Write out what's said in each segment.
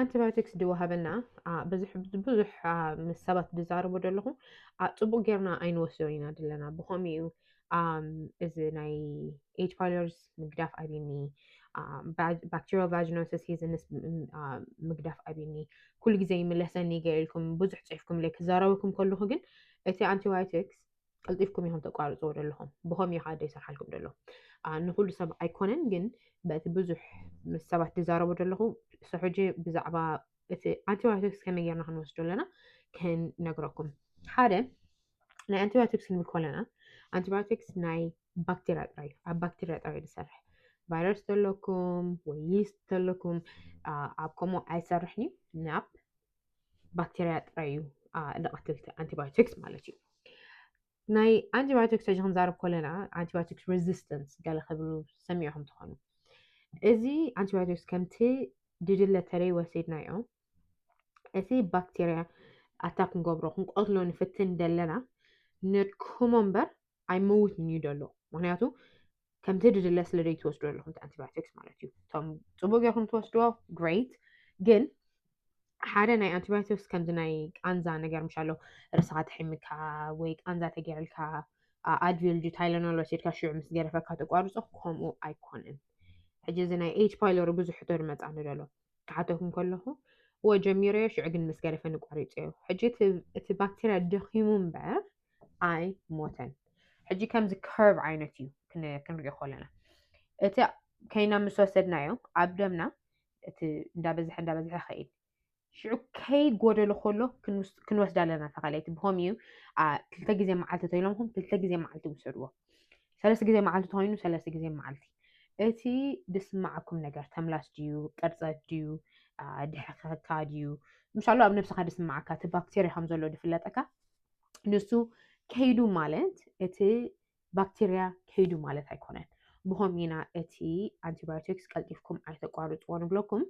ኣንቲባዮቲክስ ድዩ ወሃበና ብዙሕ ብዙሕ ምስ ሰባት ዝዛረቡ ዘለኹ ፅቡቅ ጌርና ኣይንወስዶ ኢና ዘለና ብኸምኡ እዩ እዚ ናይ ኤጅ ፋይለርስ ምግዳፍ ኣብኒ ባክቴሪያ ቫጅኖሲስ ሂዝንስ ምግዳፍ ኣብኒ ኩሉ ግዜ ይምለሰኒ ገይልኩም ብዙሕ ፅሒፍኩምለይ ክዛረበኩም ከለኹ ግን እቲ ኣንቲባዮቲክስ ቀልጢፍኩም ኢኹም ተቋርፅዎ ዘለኹም ብኸም እዩ ሓደ ይሰርሓልኩም ደሎ ንኩሉ ሰብ ኣይኮነን ግን በቲ ብዙሕ ምስ ሰባት ዝዛረቡ ዘለኹ ሰሕጂ ብዛዕባ እቲ ኣንቲባዮቲክስ ከመይ ጌርና ክንወስዶ ኣለና ክንነግረኩም ሓደ ናይ ኣንቲባዮቲክስ ክንብል ከለና ኣንቲባዮቲክስ ናይ ባክቴርያ ጥራይ እዩ ኣብ ባክቴርያ ጥራይ ዝሰርሕ ቫይረስ ዘለኩም ወይ ይስት ዘለኩም ኣብ ከምኡ ኣይሰርሕን እዩ ናብ ባክቴርያ ጥራይ እዩ ንቐትልቲ ኣንቲባዮቲክስ ማለት እዩ ናይ ኣንቲባዮቲክስ ሕጂ ክንዛረብ ከለና ኣንቲባዮቲክስ ሬዚስተንስ ገለ ክብሉ ሰሚዕኹም ትኾኑ እዚ ኣንቲባዮቲክስ ከምቲ ድድለ ተለይ ወሲድናዮ እቲ ባክቴርያ ኣታ ክንገብሮ ክንቆትሎ ንፍትን ደለና ነድክሞ እምበር ኣይመውትን እዩ ደሎ ምክንያቱ ከምቲ ድድለ ስለ ዘይትወስዶ ኣለኹም ኣንቲባዮቲክስ ማለት እዩ እቶም ፅቡቅ ጌርኩም ትወስድዎ ግሬት ግን ሓደ ናይ ኣንቲባዮቲክስ ከምዚ ናይ ቃንዛ ነገር ምሻ ኣሎ ርስኻ ተሒምካ ወይ ቃንዛ ተገይርልካ ኣድቪልጂ ታይለኖል ወሲድካ ሽዑ ምስ ገረፈካ ተቋርፆ ከምኡ ኣይኮነን ሕጂ እዚ ናይ ኤች ፓይሎሪ ብዙሕ ሕቶ ድመፃኒ ደሎ ክሓተኩም ከለኹ እወ ጀሚረዮ ሽዑ ግን ምስ ገደፈኒ ቋሪፀዮ ሕጂ እቲ ባክቴርያ ደኺሙ እምበር ኣይ ሞተን ሕጂ ከምዚ ከርብ ዓይነት እዩ ክንሪኦ ከለና እቲ ከይና ምስ ወሰድናዮ ኣብ ደምና እቲ እንዳበዝሐ እንዳበዝሐ ኸይድ ሽዑ ከይ ጎደሎ ከሎ ክንወስዳ ኣለና ተኻለ እቲ ብኸምኡ እዩ ክልተ ግዜ መዓልቲ ተይሎምኹም ክልተ ግዜ መዓልቲ ውሰድዎ ሰለስተ ግዜ መዓልቲ ተኮይኑ ሰለስተ ግዜ መዓልቲ እቲ ድስማዓኩም ነገር ተምላስ ድዩ ቅርፀት ድዩ ድሕከካ ድዩ ምሻሉ ኣብ ነብስካ ድስማዓካ እቲ ባክቴርያ ከም ዘሎ ድፍለጠካ ንሱ ከይዱ ማለት እቲ ባክቴርያ ከይዱ ማለት ኣይኮነን ብከም ኢና እቲ ኣንቲባዮቲክስ ቀልጢፍኩም ኣይተቋርፅዎ ንብለኩም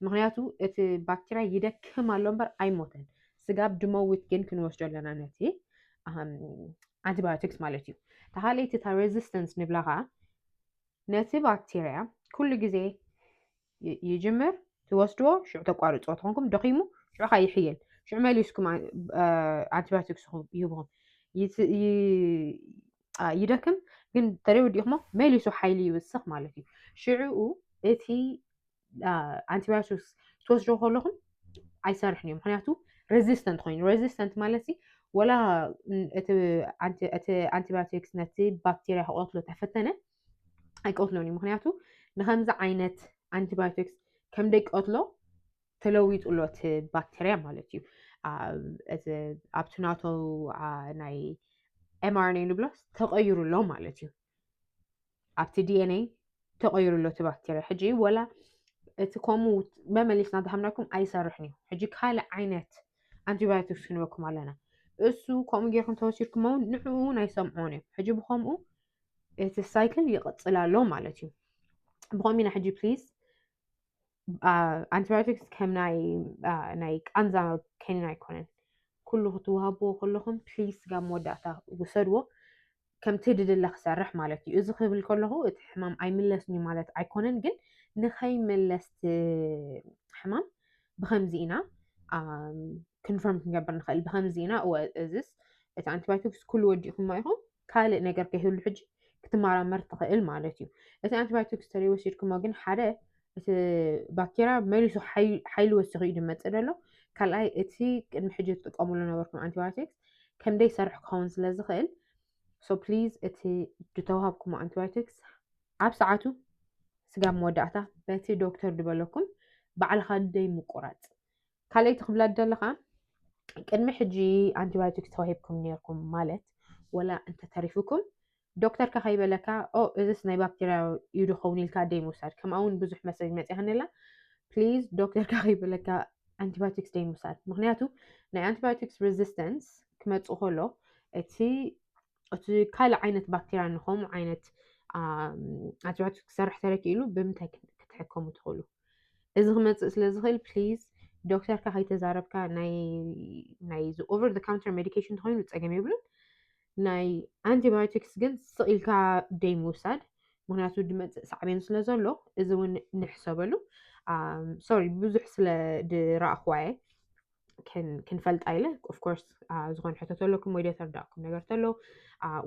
ምክንያቱ እቲ ባክቴርያ ይደክም ኣሎ እምበር ኣይሞተን ስጋብ ድመውት ግን ክንወስዶ ኣለና ነቲ ኣንቲባዮቲክስ ማለት እዩ ተሃለይቲ እታ ሬዚስተንስ ንብላ ከዓ ነቲ ባክቴርያ ኩሉ ግዜ ይጅምር ትወስድዎ ሽዑ ተቋርፅዎ ተኾንኩም ደኺሙ ሽዑ ከዓ ይሕየል ሽዑ መሊስኩም ኣንቲባዮቲክስ ይህብኹም ይደክም ግን ተደይ ወዲእኹሞ መሊሱ ሓይሊ ይውስኽ ማለት እዩ ሽዑኡ እቲ ኣንቲባዮቲክስ ትወስዶ ከለኹም ኣይሰርሕን እዩ ምክንያቱ ሬዚስተንት ኮይኑ ሬዚስተንት ማለት ወላ እቲ ኣንቲባዮቲክስ ነቲ ባክቴርያ ክቐትሎ ተፈተነ ኣይቀትሎን እዩ ምክንያቱ ንከምዚ ዓይነት ኣንቲባዮቲክስ ከም ደቂ ቀትሎ ተለዊጡ ኣሎ እቲ ባክቴርያ ማለት እዩ ኣብቲ ናቶ ናይ ኤምኣርኤን ንብሎ ተቐይሩ ኣሎ ማለት እዩ ኣብቲ ዲኤንኤ ተቐይሩ ኣሎ እቲ ባክቴርያ ሕጂ ወላ እቲ ከምኡ መመሊስና ዝሃብናኩም ኣይሰርሕን እዩ ሕጂ ካልእ ዓይነት ኣንቲባዮቲክስ ክንበኩም ኣለና እሱ ከምኡ ጌርኩም ተወሲድኩም እውን ንዕኡ እውን ኣይሰምዖን እዩ ሕጂ ብከምኡ እቲ ሳይክል ይቕፅል ኣሎ ማለት እዩ ብኸምኡ ኢና ሕጂ ፕሊዝ ኣንቲባዮቲክስ ከም ናይ ቃንዛ ከኒን ኣይኮነን። ኩሉ ክትዋሃብዎ ከለኹም ፕሊስ ጋብ መወዳእታ ውሰድዎ ከምቲ ድድለ ክሰርሕ ማለት እዩ። እዚ ክብል ከለኹ እቲ ሕማም ኣይምለስን እዩ ማለት ኣይኮነን፣ ግን ንኸይምለስ ሕማም ብከምዚ ኢና ክንፈርም ክንገብር ንኽእል ብከምዚ ኢና እወ እዚስ እቲ ኣንቲባዮቲክስ ኩሉ ወዲእኩማ ኢኹም ካልእ ነገር ከይህሉ ሕጂ ክትመራመር ትኽእል ማለት እዩ። እቲ ኣንቲባዮቲክስ ተለይ ወሲድኩሞ ግን ሓደ እቲ ባክቴርያ መሊሱ ሓይሊ ወሲኹ እዩ ዝመፅእ ዘሎ ካልኣይ እቲ ቅድሚ ሕጂ ትጥቀምሉ ነበርኩም ኣንቲባዮቲክስ ከምደይ ሰርሕ ክኸውን ስለ ዝኽእል ሶ ፕሊዝ እቲ ዝተዋሃብኩሞ ኣንቲባዮቲክስ ኣብ ሰዓቱ ስጋብ መወዳእታ በቲ ዶክተር ዝበለኩም ባዕልኻ ደይ ምቁራፅ ካልኣይቲ ክብላ ዝደሊ ከዓ ቅድሚ ሕጂ ኣንቲባዮቲክስ ተዋሂብኩም ነርኩም ማለት ወላ እንተተሪፉኩም ዶክተር ከ ከይበለካ ኦ እዚስ ናይ ባክቴርያ እዩ ድኸውን ኢልካ ደይ ምውሳድ ከምኣ እውን ብዙሕ መሰጅ መፅያኒ ኣላ ፕሊዝ ዶክተር ከ ከይበለካ ኣንቲባዮቲክስ ደይ ምውሳድ ምክንያቱ ናይ ኣንቲባዮቲክስ ሬዚስተንስ ክመፅእ ከሎ እቲ እቲ ካልእ ዓይነት ባክቴርያ ንከምኡ ዓይነት ኣትባሕቱ ክሰርሕ ተረኪኢሉ ብምንታይ ክትሕከሙ ትኽእሉ? እዚ ክመፅእ ስለ ዝኽእል ፕሊዝ ዶክተርካ ከይተዛረብካ ናይ ኦቨር ካውንተር ሜዲኬሽን ተኮይኑ ፀገም የብሉን። ናይ ኣንቲባዮቲክስ ግን ስቕ ኢልካ ደይ ምውሳድ ምክንያቱ ድመፅእ ሳዕቤን ስለ ዘሎ እዚ እውን ንሕሰበሉ። ሶሪ ብዙሕ ስለ ድረኣኹዋ እየ። ክንፈልጣ ኢለ ኦፍኮርስ ዝኾነ ሕቶ ተለኩም ወይ ደተርዳእኩም ነገር ተሎ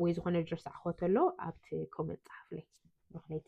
ወይ ዝኾነ ድረስ ኣኸተሎ ኣብቲ ኮመንት ፀሓፍለይ ሮክነይቲ